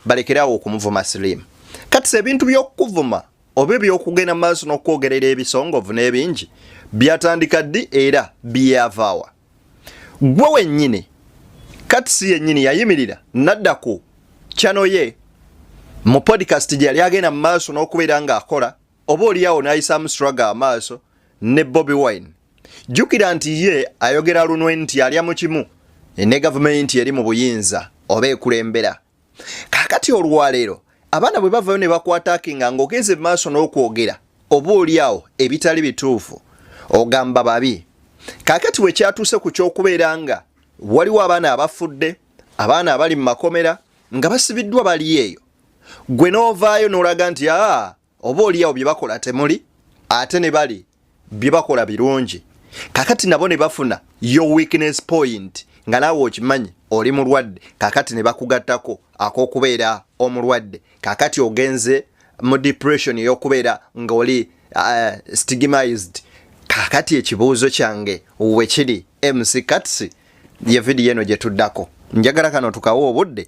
balekere awo okumuvuma slim kati ebintu byokukuvuma oba ebyokugenda mu maaso n'okwogerera ebisongovu n'ebingi byatandika ddi era byeyavaawa gwe wennyini kati si yennyini yayimirira nadda ku kyano ye mu podcast gye yali agenda mu maaso n'okubeera ng'akola oba oliawo n'ayisaamu struggle amaaso ne bobi wine jjukira nti ye ayogera lunwe nti alya mu kimu ne gavumenti eri mu buyinza oba ekulembera kaakati olwaleero abaana bwe bavayo ne bakwatakinga ng'ogenze mu maaso n'okwogera oba olyawo ebitali bituufu ogamba babi kaakati bwe kyatuuse ku ky'okubeera nga waliwo abaana abafudde abaana abali mu makomera nga basibiddwa bali eyo gwe n'ovaayo n'olaga nti aa oba oliawo bye bakola temuli ate ne bali bye bakola birungi kakati nabo ne bafuna your weakness point nga naawe okimanyi oli mulwadde kakati ne bakugattako ak'okubeera omulwadde kakati ogenze mu depression ey'okubeera ng'oli uh, stigmized kakati ekibuuzo kyange wekiri mc katsi ye vidiyo eno gye tuddako njagala kano tukawa obudde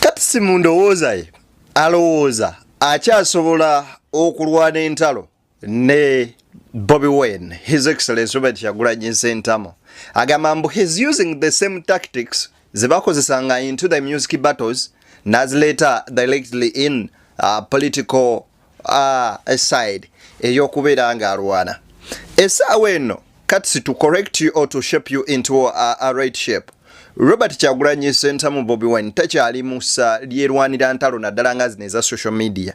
katisi mu ndowooza ye alowooza akyasobola okulwana entalo ne bobi wen his excellence robert kyagulanyi nsentamo agamba mbu his using the same tactics zebakozesanga into the music battles nazileeta directly in uh, political uh, aside eyokubeera nga alwana esaawa eno kati to correct you or to shape you into a, a right shape robert kyagulanyi sentamu bobi wine takyali musa lyerwanira ntalo naddala nga zino eza social media